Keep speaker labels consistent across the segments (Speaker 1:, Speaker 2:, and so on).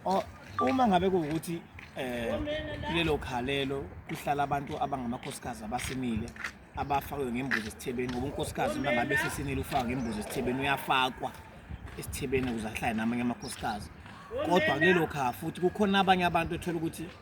Speaker 1: Oh, uma ngabe kuwukuthi eh kulelo khalelo kuhlala abantu abangamakhosikazi abasinile abafakwe ngembuzi esithebeni ngoba unkosikazi uma ngabe sesinile ufaka ngembuzi esithebeni uyafakwa esithebeni ukuze ahlale namanye amakhosikazi kodwa kulelo kha futhi kukhona abanye abantu ethola ukuthi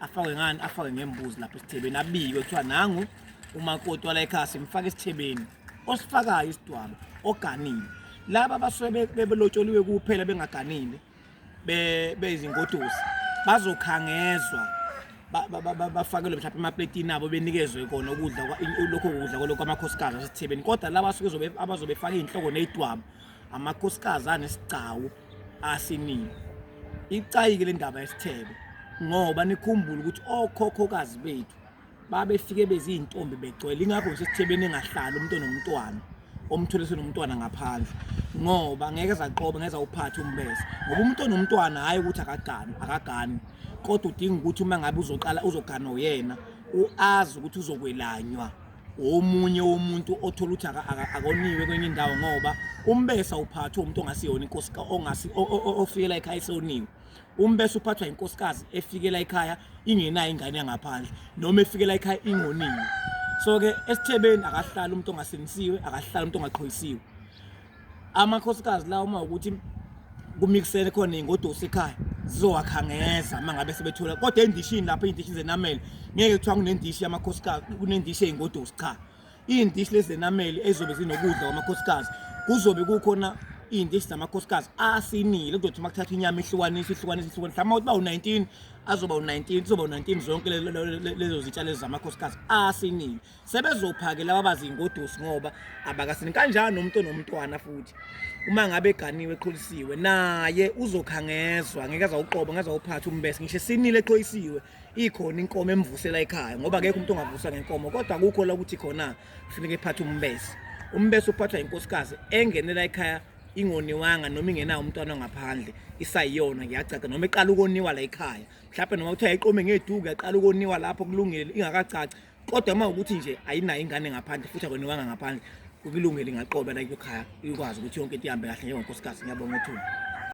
Speaker 1: afakwe ngani afakwe ngembuzi lapha esithebeni abikwe kuthiwa nangu umakoti wala ekhaya simfaka esithebeni osifakayo isidwaba oganile laba abasuke bebelotsholiwe kuphela bengaganile beyizingodusi bazokhangezwa bafakelwe mhlawumbe emapletini abo benikezwe kona ukudla lokho kudla kwalokho amakhosikazi asesithebeni kodwa laba abazobe faka iy'nhloko ney'dwabo amakhosikazi anesigcawu asiningi icayike le ndaba yesithebe ngoba nikhumbule ukuthi okhokhokazi bethu babefike beziintombi begcwele ingakho nje sithebeni engahlali umuntu nomntwana omthole senomntwana ngaphandle ngoba ngeke zaqoba ngeza uphathe umbese ngoba umuntu onomntwana hayi ukuthi akagani akagani kodwa udinga ukuthi uma ngabe uzoqala uzogana uyena uazi ukuthi uzokwelanywa omunye womuntu othola ukuthi akoniwe kwenye indawo ngoba umbesa uphathwa umuntu ongasiyona inkosi ongasi ofikela ekhaya esoniwe umbesa uphathwa inkosikazi efikela ekhaya ingenayo ingane yangaphandle noma efikela ekhaya ingoniwe so ke esithebeni akahlali umuntu ongasinisiwe akahlali umuntu ongaqhoyisiwe amakhosikazi la uma ukuthi kumixele khona ingodosi ekhaya zizowakhangeza uma ngabe sebethola kodwa endishini lapha iy'ndishi zenamele ngeke kuthiwa kunendishi yamakhosikazi kunendishi ey'ngodosi cha iy'ndishi lezi zenamele ezizobe zinokudla kwamakhosikazi kuzobe kukhona iy'ndishi zamakhosikazi asinile kuzothi uma kuthatha inyama ihlukanisa ihlukanisa ihlukanisa mhlawumbe uba u-nineteen azoba u-nineteen kuzoba u-nineteen zonke lezo zitshalo zamakhosikazi asinile sebezophake laba bazingodusi ngoba abakasini kanjani nomuntu onomntwana futhi uma ngabe eganiwe eqholisiwe naye uzokhangezwa ngeke azawuqoba ngeke azawuphatha umbese ngisho sinile eqhoyisiwe ikhona inkomo emvusela ekhaya ngoba akekho umuntu ongavusa ngenkomo kodwa kukho la ukuthi khona kufuneka ephathe umbese umbese uphathwa inkosikazi engenela ekhaya ingoniwanga noma ingenawo umntwana ngaphandle isayiyona ngiyacaca noma iqala ukoniwa la ekhaya mhlawumbe noma kuthiwa yayiqome ngeduku yaqala ukoniwa lapho kulungile ingakacaci kodwa uma ukuthi nje ayinayo ingane ngaphandle futhi akoniwanga ngaphandle kukulungele ingaqoba la kuyokhaya ikwazi ukuthi yonke into ihambe kahle njengonkosikazi ngiyabonga ethuba